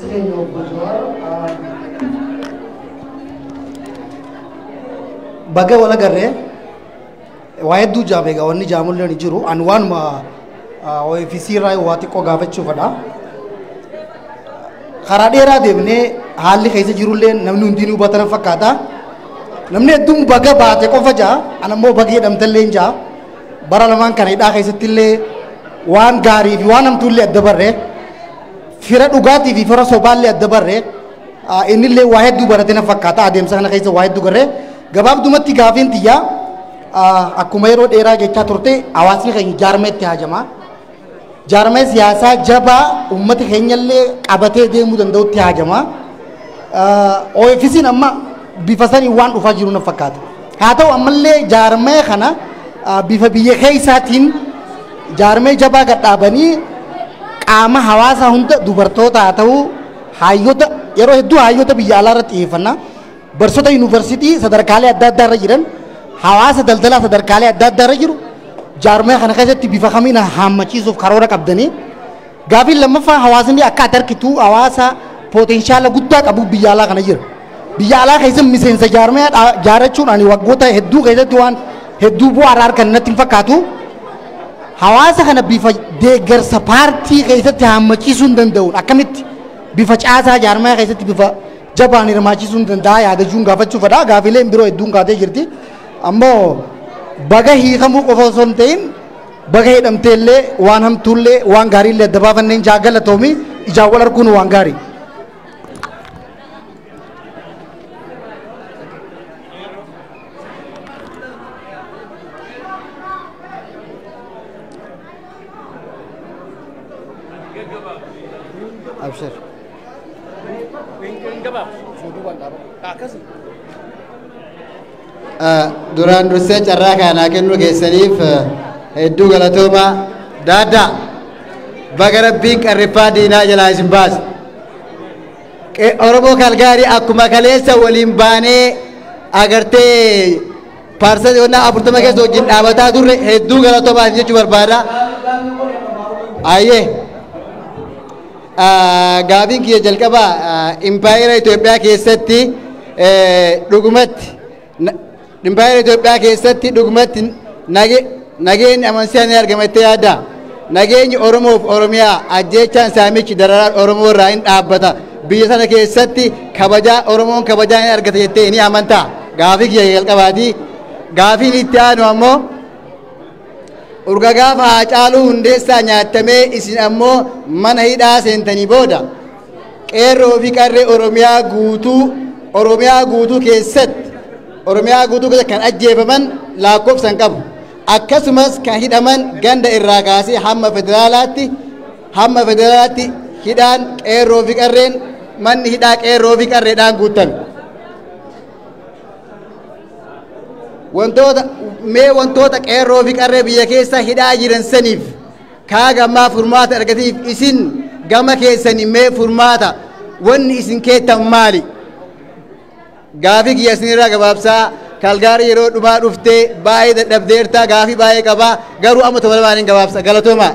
Keenya obbo Jawaar baga wal agarree waa hedduu jaame egaa wanni jaamullee ni jiru an waanuma OFC irraa waa xiqqoo gaafachuufadha. Karaa dheeraa deemnee haalli keessa jirullee namni hundinuu hubatan fakkaata. Namni hedduun baga baate qofa jaa an ammoo baga jedhamtallee jaa bara lamaan kana hidhaa keessattillee waan gaarii fi waan hamtuullee adda barree. Fira dhugaatii fi fira sobaallee adda barre innillee waa hedduu barate na fakkaata adeemsa kana keessa waa hedduu garre gabaabdumatti gaafiin tiyyaa akkuma yeroo dheeraa jechaa turte hawaasni keenya jaarmeetti haajama. Jaarmee siyaasaa jabaa uummata keenyallee qabatee deemuu danda'utti haajama. OFC'n amma bifa sanii waan dhufaa jiru na fakkaata. Haa ta'u ammallee jaarmee kana bifa biyya keessaatiin Jaarmaya jabaa gad dhaabanii qaama hawaasaa hunda dubartoota haa ta'u haayyota yeroo hedduu haayyota biyya alaa irratti xiyyeeffanna. Barsiisota yuunivarsiitii sadarkaalee adda addaa irra jiran hawaasa daldalaa sadarkaalee adda addaa irra jiru jaarmaya kana keessatti bifa kamiin haammachiisuuf karoora qabdanii Gaafiin lammaffaa hawaasni akka ati arkitu hawaasa pooteenshaala guddaa qabu biyya alaa kana jira. Biyya alaa keessa miseensa jaarmaya jaarachuun ani waggoota hedduu keessatti waan hedduu bu'aa irraa argan natti hin fakkaatu. Hawaasa kana bifa deeggarsa paartii keessatti haammachiisuu hin danda'uun akkamitti bifa caasaa jaarmaya keessatti bifa jabaan hirmaachisuu hin danda'a yaadachuun gaafachuu fedha. Gaafiileen biroo hedduun kaatee jirti. Ammoo baga hiikamuu qofa osoo hin ta'in Baga hidhamtee illee waan hamtuu illee waan gaarii illee adda baafanneen jaa galatoomi ijaan wal arguun waan gaarii. Abshir. Akkasuma. Duraan dursee carraa kana naa kennuu keessaniif hedduu galatoomaa. Daaddaa baga rabbiin qarriffaa diinaa jalaa isin baase. Oromoo Kalgaarii akkuma kaleessa waliin baanee agartee paarsanii onnaa afurtama keessa wajjin dhaabataa turre hedduu galatoomaa isin jechuu barbaada. Ayyee. Gaafiin kiyya jalqabaa impaayera Itoophiyaa keessatti dhugumatti impaayera Itoophiyaa keessatti dhugumatti nageenyi amansiisaan ni argama jettee yaadda? Nageenyi Oromoof Oromiyaa ajjeechaan saamichi dararaan Oromoo irraa hin dhaabbata. Biyya sana keessatti kabajaa Oromoon kabajaa ni argata jettee ni amantaa? Gaafii kiyya jalqabaati. Gaafiin itti aanu ammoo Urga gaafa Haacaaluu Hundeessaa nyaattamee isin ammoo mana hidhaa seentanii booda qeerroo fi qarree Oromiyaa guutuu Oromiyaa guutuu keessatti Oromiyaa guutuu keessatti kan ajjeefaman lakkoofsan qabu. Akkasumas kan hidhaman ganda irraa kaasee hamma federaalaatti hamma federaalaatti hidhaan qeerroo fi qarreen manni hidhaa qeerroo fi qarreedhaan guutame. wantoota mee wantoota qeerroo fi qarree biyya keessa hidhaa jiran saniif kaa gammaa furmaata argataniif isin gama keessani mee furmaata wanni isin keettan maali gaafii kiyya isinirraa gabaabsaa kalgaarii yeroo dhumaa dhufte baay'ee dadhabdeerta gaafii baay'ee qaba garuu amma tola baaniin gabaabsa galatoomaa.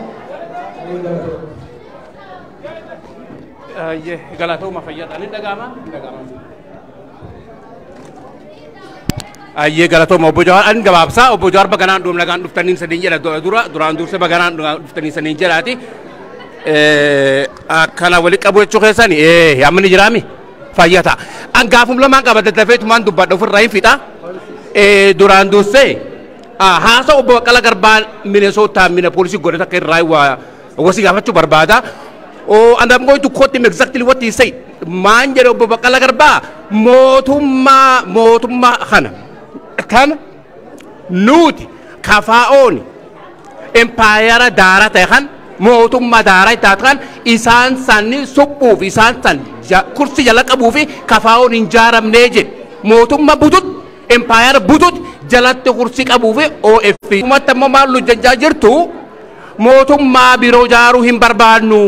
Galatooma fayyadaan hin dhaga'ama hin dhaga'ama. Ayyee galatooma obbo Jawaar an gabaabsaa obbo Jawaar baganaan dhuum nagaan dhuftaniin saniin jedha du- dura duraan dursee baganaan dhugaa dhuftaniin saniin jedhaati. Eh, Akkana wali qabu jechuu keessani eh amma ni jiraami fayyaa ta'a. An gaafum lamaan qaba daddafeetumaan dubbadha ofirraa hin fixa. Eh, Duraan dursee ah, haasa obbo Baqqala Garbaa Minesootaa Minapoolisii godhata akka irraa waa Obbo si gaafachuu barbaada. Oh, and I'm going to quote him exactly what he said. Maan jedhe obbo Baqqala Garbaa mootummaa mootummaa kana kana nuti kafaa'ooni impaayara daara ta'e kan mootummaa daara itti taate kan isaan sanni suphuuf isaan san ja- kursi jala qabuu fi kafaa'oon hin jaaramnee jedhe mootummaa butut impaayara butut jalatti kursi qabuu fi OF. Uummatta immoo maal hojjechaa jirtu? mootummaa biroo jaaruu hin barbaannu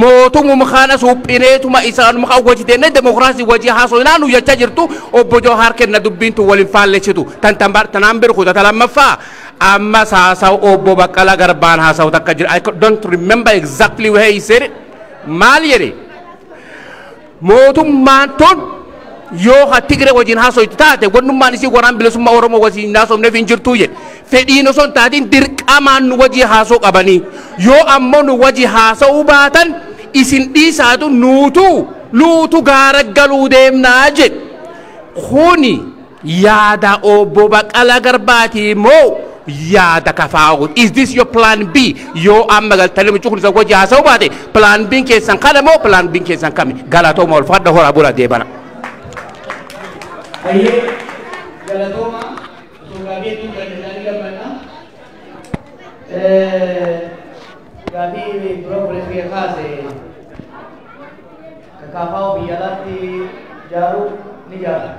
mootumum kana suphineetuma isaanuma kan wajji deemnee demokiraasii wajji haasofnaa nu jechaa jirtu obbo Jawaar kenna dubbiin tun waliin faallessitu tan tan bar tanaan beeku tata lammaffaa ammas haasawu obbo Baqqalaa Garbaan haasawu takka jira I don't remember exactly where he said it maal jedhe Mootummaan tun yoo ka Tigre wajin haasoytu taate wannummaan isii waraan bilisummaa Oromoo wajin hin haasofneef hin jirtuu jedhe. Fedhiin osoo hin taatiin dirqamaan nu wajii haasoo qabanii. Yoo ammoo nu waji haasa'uu baatan isin dhiisaatu nuutu luutu gaara galuu deemnaa jedhe. Kuni. Yaada Obbo Baqqalaa Garbaati moo yaada kafaa'uuti? Is this your plan B? Yoo amma galtanii mucuu kun isa wajji haasa'uu baate plan B keessan kana moo plan B keessan kami? Galatooma ulfaadha horaa bula deebana. Hayyee galatooma osoo gaafii hedduun kan isaanii gabbadha. Gaafii dura obboleessi kee kaase Ka kaafaa'u biyya alaatti jaaru ni jaara.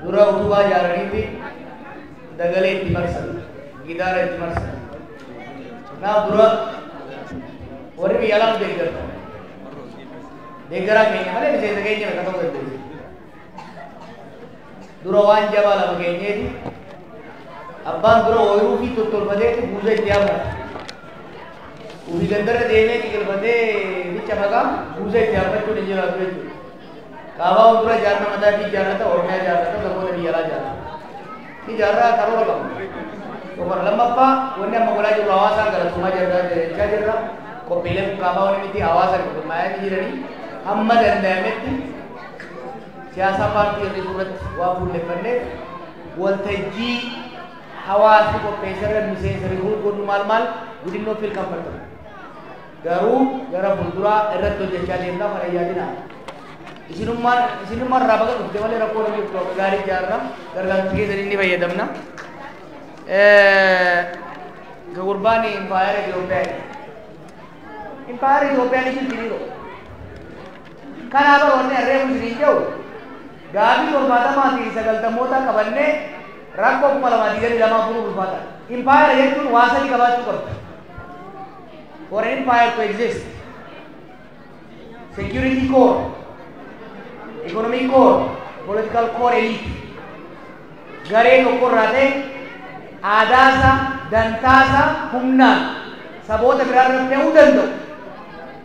Dura utubaa jaaraniiti dagalee itti marsan, gidaara itti marsan. Kanaaf dura warri biyya alaatti deeggartan. Deeggaraa keenya malee miseensa keenya miti akka ta'u dandeessu. dura waan jabaa lama keenyeeti abbaan dura ooyiruu fi tottolfatee buusa itti hammata ofii gandarra deemee xiqilfatee micha maqaa buusa itti hammachuun hin jiraatu jechuudha qaabaa dura jaarna mataa fi jaarrata oromiyaa jaarrata saboota biyya alaa jaarrata ni jaarraa karoora qabu tokkoon lammaffaa wanni amma godhaa jirru hawaasaan galatoomaa jirra jechaa jirra qophiilee kun qaabaa wanni miti hawaasa gurmaa'aa jiranii hamma danda'ametti siyaasaa paartii hir'isuu irratti waan fuulleffanneef waltajjii hawaasni qopheesse irra miseensa rikruut godhuu maal maal widinnoo fiil kamfartan garuu gara fuulduraa irratti hojjechaa deemna kana yaadina isinummaan isinummaan irraa baga dhufte malee rakkoon hin jirtu akka gaarii ijaarra gargaarsa keessanii ni fayyadamna. Ka gurbaan impaayera Itoophiyaa impaayera Itoophiyaa ni jirti ni Kanaa bar wanni an reefu isiniin je'u, gaafii torbaatamaa fi sagaltammootaa qabannee rakkoo 2022 furuun ulfaataadha. Impaayera jechuun waa sadi qabaachuu qabdi. For an empire to exist, security core, economic core, political core elite. Garee tokko irraa ta'e aadaasaa, dantaasaa humnaan saboota biraarra fe'uu danda'u.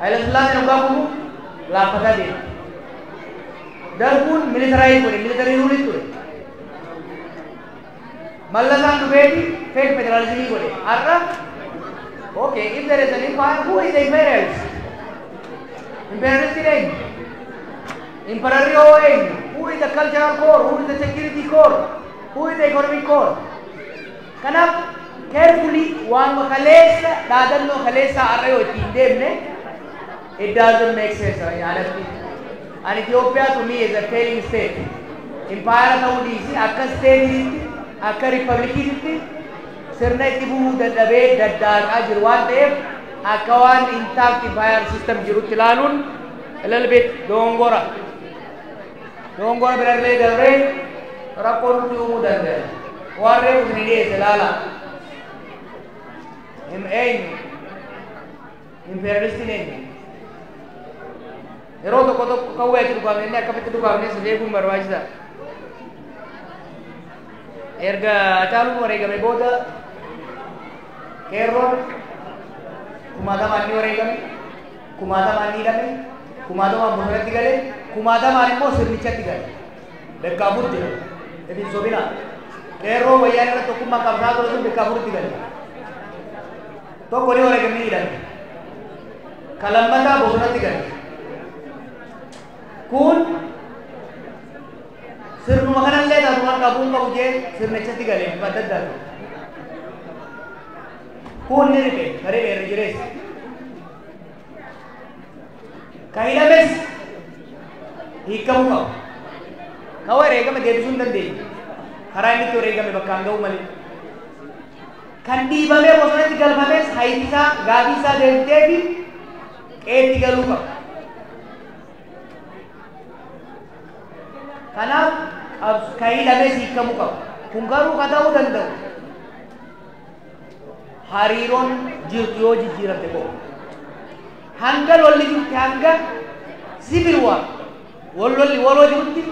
Hayilasillaaseen oggaa kufu laaffataa deema. Darguun militaraayii godhe militarii ruulii ture. Mallasaan dhufeeti feek federaalizimii godhe. Har'a okay if there is an empire who is the imperialist? Imperialistiin eenyu? Imperarri hoo eenyu? Who is the cultural core? Who is the security core? Who is the economic core? Kanaaf carefully waanuma kaleessa dhaadannoo kaleessaa har'a yoo ittiin deemne it doesn't make sense jedhanii alatti an Ethiopia to me is a failing state impaayara ta'uu dhiisi akka steetiitti akka riippablikiititti sirna itti fufuu dadhabee daddaaqaa jiru waan ta'eef akka waan intact impaayar system jirutti ilaaluun a little bit dogongora. Dogongora birallee dabree rakkoo nutti uumuu dandaya. Waan reefu isin dhiyeesse laala. Hin eenyu. Impeeralistiin eenyu. Yeroo tokko tokko kawwee itti dhukaafne inni akkamitti dhukaafne si beekuun barbaachisa. Erga Hacaaluun wareegame booda qeerroon kumaatamaan ni wareegame. kumaatamaan ni hidhame, kumaatamaan bosonatti gale, kumaatamaan immoo sirnichatti gale. Bekkaa Afur jira. Itti hin sobinaa. Qeerroo wayyaan irratti tokkummaan qabsaa ture sun bekkaa afuritti gale. Tokko ni wareegamni hidhame. Ka lammataa bosonatti gale. Kun sirnuma kanallee taatu kan qabu hin qabu jee sirnichatti gale bifa adda addaa ture. Kun ni ribe, ka ribe irra jireessa. Ka hidhames hiikamuu qaba. Ka wareegame deebisuu hin dandeenye. Karaa inni itti wareegame bakkaan ga'uu malee. Kan dhiibamee bosonatti galfames hayyisaa gaafii isaa deebitee fi qeetti galuu qaba. Kanaaf qabs- ka hidhames hiikamuu qaba. Kun garuu ka ta'uu danda'u hariiroon jirtu yoo jijjiiramte qofa. Hanga lolli jirutti hanga civil war wal lolli waloo jirutti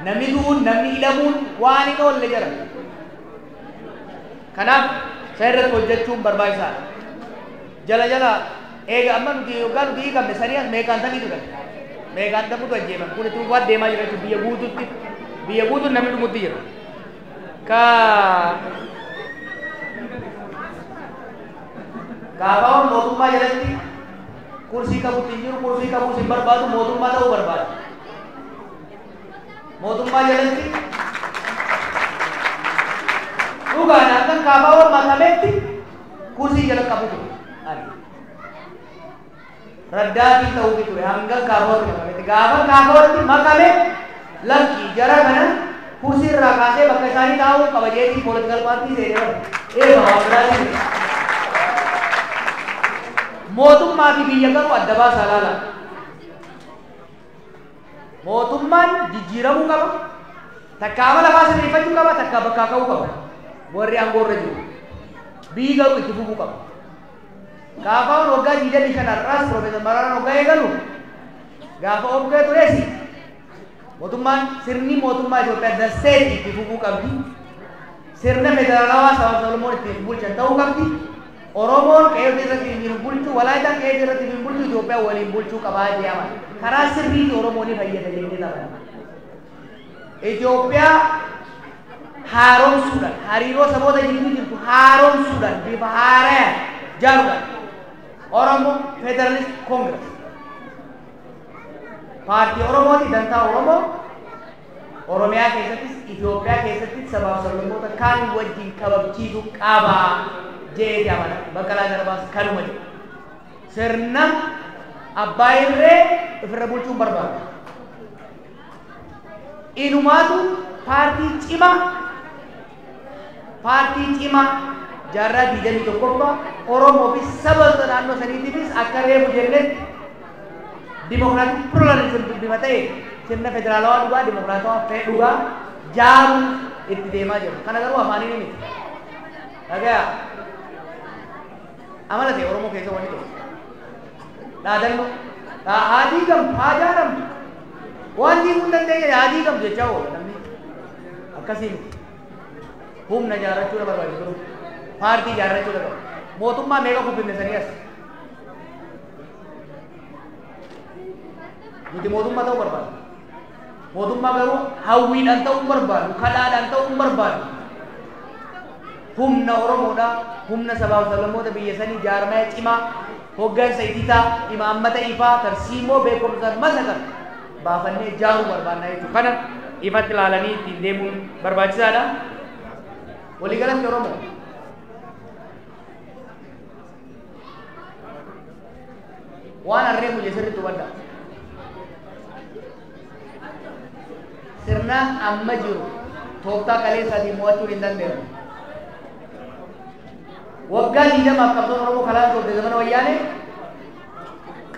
namni du'uun namni hidhamuun waan hin oolle jira. Kanaaf isa irratti hojjechuun barbaachisaadha. Jala jala eega amma nuti yoggaa nuti hiikamne sanii as meeqaan sanii turan. Meeqaan dhabutu ajjeeman kun itti fufaa deemaa jira jechuudha biyya guutuutti biyya guutuun namni dhumutti jira. ka kaafaawwan mootummaa jalatti kursii qabu hin jiru kursii qabuus hin barbaadu mootummaa ta'uu barbaada mootummaa jalatti dhugaan akkan kaafaawwan makametti kursii jala qabu ture ani raddaatii ta'uufi ture hangan kaafoorti makametti gaafan kaafoorti makame lakki jara kana kursii irraa kaasee bakka isaanii taa'uu qaba jeetii poolitical paartii seenee eeba waan biraatiin mootummaa fi biyya garuu adda baasaa laala mootummaan jijjiiramuu qaba takka amala faa sirreeffachuu qaba takka bakkaa ka'uu qaba warri aangoo irra jiru biyyi garuu itti fufuu qaba KFOn waggaa 25 har'aas Piroofeesar Maraaraan hoggaa eegalu gaafa opdo tures mootummaan sirni mootummaa Itoophiyaa the state itti fufuu qabdi. Sirna federaalawaa sabaa fi sablammoon itti hin bulchan ta'uu qabdi. Oromoon qe'ee ofii irratti hin bulchu, Walaayitaan qe'ee ofii irratti hin bulchu, Itoophiyaa waliin bulchuu qabaa jee amana. Karaa sirriitii Oromoo ni fayyada jennee taphanna. Itoophiyaa haaromsuudhaan, hariiroo saboota jidduu jirtu haaromsuudhaan, bifa haarayaan jaaruudhaan Oromo Federalist Congress paartii Oromooti dantaa Oromoo Oromiyaa keessattis Itoophiyaa keessattis sabaaf sablammoota kaan wajjin kabajchiisu qaba jeeti amana. Baqqalaa Garbaas kanuma jedhe. Sirna abbaa irree ofirra bulchuun barbaada. Inumaatu paartii cimaa paartii cimaa jaarraa 21ffaa Oromoo fi saba sa naannoo saniitiifis akka reefu jennetti dimokiraatik pluralism dubbima ta'e sirna federaalawaa dhugaa dimokiraatawaa fee dhugaa jaaru itti deemaa jiru. Kana garuu afaaniin miti. Dhagaya. Amala ta'e Oromoo keessa wanni tokko. Dhaadannoo. Dhaa- Haa diigamtu, haa jaaramtu. Waan diiguu hin dandeenye haa diigamtu jechaa oola namni. Akkasii miti. Humna ijaarrachuu na barbaachisa ture. Paartii ijaarrachuu na barbaachisa. Mootummaa meeqa kubbinne sanii as. Nuti mootummaa ta'uu barbaada. Mootummaa garuu hawwiidhaan ta'uu hin barbaadu, kadhaadhaan ta'uu hin barbaadu. Humna Oromoodha, humna sabaaf sablammoota biyya sanii jaarmaya cimaa, hoggansa ititaa, imaammata ifaa, tarsiimoo beekumsaan masakame baafannee jaaruu barbaannaa jechuudha. Kana ifatti ilaalanii ittiin deemuun barbaachisaadha. Waliigalatti Oromoo waan harree muje sirriitti hubadha sirna amma jiru tooftaa kaleessaatiin mo'achuun hin dandeenye waggaa digdamaaf qabsoon oromoo kalaan turte zamana wayyaane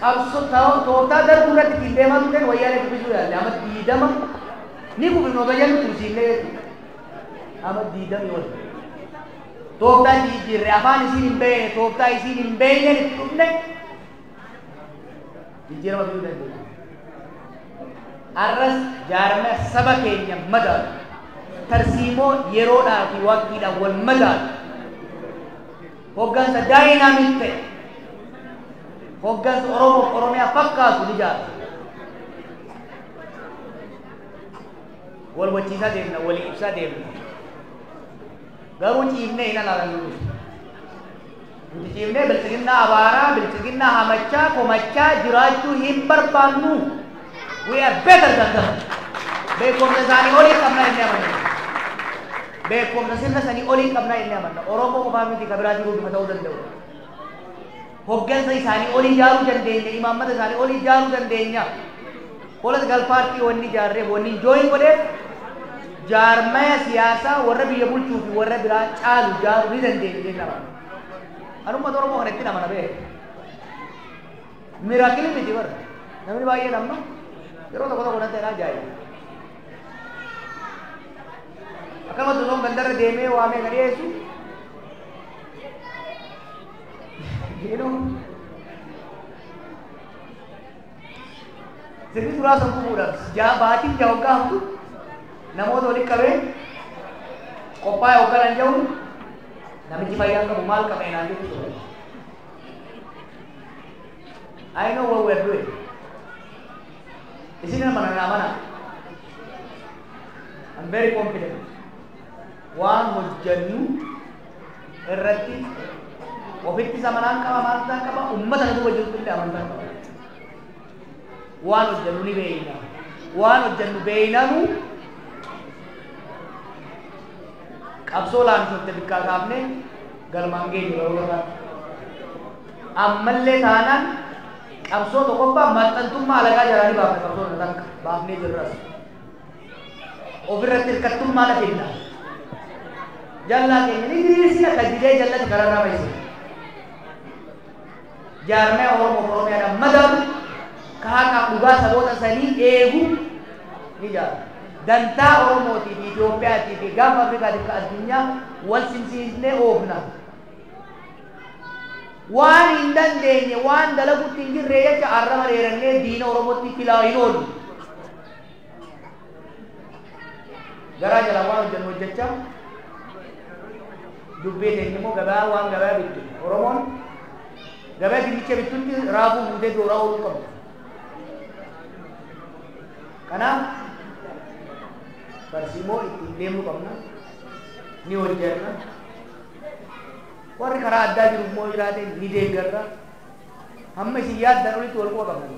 qabso tooftaa darbuu irratti ittiin deemaa turteen wayyaane dubbisuu yaalle amma digdama ni gubinoota jennu tursiillee amma digdamii wal tooftaa itti jijjiirre afaan isiin hin beekne tooftaa isiin hin beekneen itti dhufne jijjiirama fiduu dandeenya. Har'as jaarmee saba keenya madaalu tarsiimoo yeroodhaa fi waqtiidhaan wal madaalu hoggansa daayinaamik ta'e hoggansa Oromoof Oromiyaa fakkaatu ni jaarra. Wal hubachiisaa deemna, walii ibsaa deemna. Garuu ciifnee hin alaalannu nuti. Nuti ciifnee bilxiginnaa abaaraa, bilxiginnaa hamachaa, komachaa jiraachuu hin barbaannu. We are better than them. Beekumsa isaanii olii qabna jennee amanna. Beekumsa sirna sanii olii qabna jennee amanna. Oromoo qofaa miti kan biraa jiruu dhuma ta'uu danda'u. Hoggansa isaanii ol ijaaruu dandeenya, imaammata isaanii ol ijaaruu dandeenya. Political party wanni ijaarreef, wannin join godheef jaarmaya siyaasaa warra biyya bulchuu fi warra biraa caalu ijaaruu ni dandeenya jennee amana. An uummata Oromoo kana ittiin amana beeku. Miracle miti bar. Namni baay'een amma yeroo tokko tokko natti jedhaa ajaa'iba. Akkasumas osoo gandarra deemee waamee kan dhiyeessu Hidhuu. Sirni turaa sammuu fuudhaaf ja'a baatiin ja'a hoggaa hamtu namoota walitti qabee qophaa'e hoggaa nan jedhu namichi fayyaa qabu maal qaba inaan jedhu ture. I know what we are doing. Isin nama nanaa mana. I'm very confident. Waan hojjennu irratti ofitti zamanaan qaba maaltaan qaba ummata na duuba jirtu illee amantaa qaba waan hojjannu ni beeyna waan hojjannu beeynanu qabsoo laamshofte bikkaa kaafne galmaan geenyu garuu irraa ammallee taanaan qabsoo tokkoffaa maxxantummaa alagaa jalaa ni baafne qabsoo takka baafnee jirras Of irratti hirkattummaa na fidda. Jallaa keenya ni diriirsina ka didee jallate kararraa baysina. Jaarmaya Oromoo fi Oromiyaadhaan madaalu ka haqaaf dhugaa saboota sanii eegu ni jaarra. Dantaa Oromootii fi Itoophiyaatii fi gaafa Afrikaatiif ka addunyaa wal simsiisnee oofna. Waan hin dandeenye waan dalagutti hin jirre jecha arraba dheerannee diina Oromootti filaa hin oollu. garaa jalaa waan hojjennu hojjechaa dubbii keenya immoo gabaa waan gabaa bittu oromoon gabaa dinnicha bittutti raafuu fuutee dooraa ooluu qabdu kanaaf tarsiimoo ittiin deemuu qabna ni hojjenna warri karaa addaa jiru immoo jiraate ni deeggarra hamma isin yaaddan olitti wal quba qabna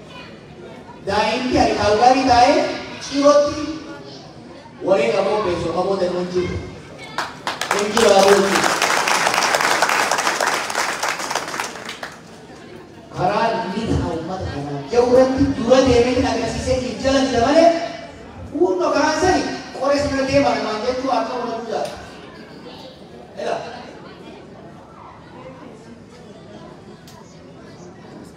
Daa'imti ani kaalgaarii taa'ee cirootti waree qaboo beeksoo qaboo deemuun jiru. Ergi raawwatu jiru. Karaa lixa uummata kanaa jiru irratti dura deemeetiin agarsiisee hin jalanidha malee hundo karaa sani qoree sana deemaa namaan jechuu akka uummatu jaala. Ela.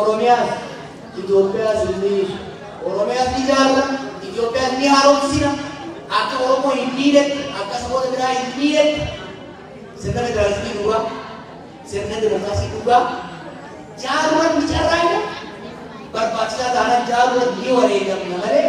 Oromiyaas Itoophiyaas hin miisu. Oromiyaas ni ijaarra, Itoophiyaas ni haaromsina. Akka Oromoo hin miinetti, akka saboota biraa hin miinetti sirna federaalizimii dhugaa, sirna dimokiraasii dhugaa jaaruudhaan ni carraaqna. Barbaachisaa taanaan jaaruudhaan ni wareegamna malee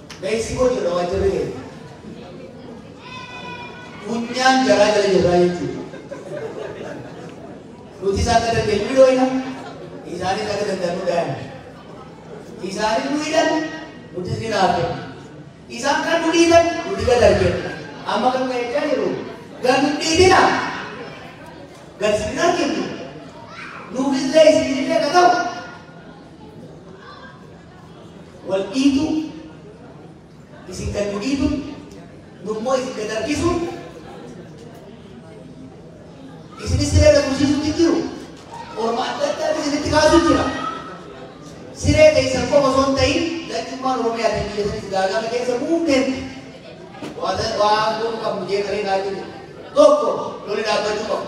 Mexico jirra waajjirri keenya. Funyaan jaraa jala jirraa jechuudha. Nutis akka dandeenyu ni dhooyna, isaanis akka danda'an nu dhaayan. Isaanis nu hidhan, nutis ni naafne. Isaan kan nu dhiitan, nuti gad argina. Amma kan ka'e jaa jiru, gad nu dhiitina. Gad isin hin arginu. Nuufis illee isin illee akka ta'u, wal dhiituu, isin gad nu dhiituun, nu immoo isin gad harkisuun, isinis siree gad tursiisuutti jiru, orma adda addaatu isinitti kaasuu jira. Siree keessan qofa osoo hin ta'in, lachummaan Oromiyaa ta'e biyya sanis gaagama keessa buufteen waan waan goonu qabnu jeeqaree naa jiru. Tokko loli dhaabbachuu qabu.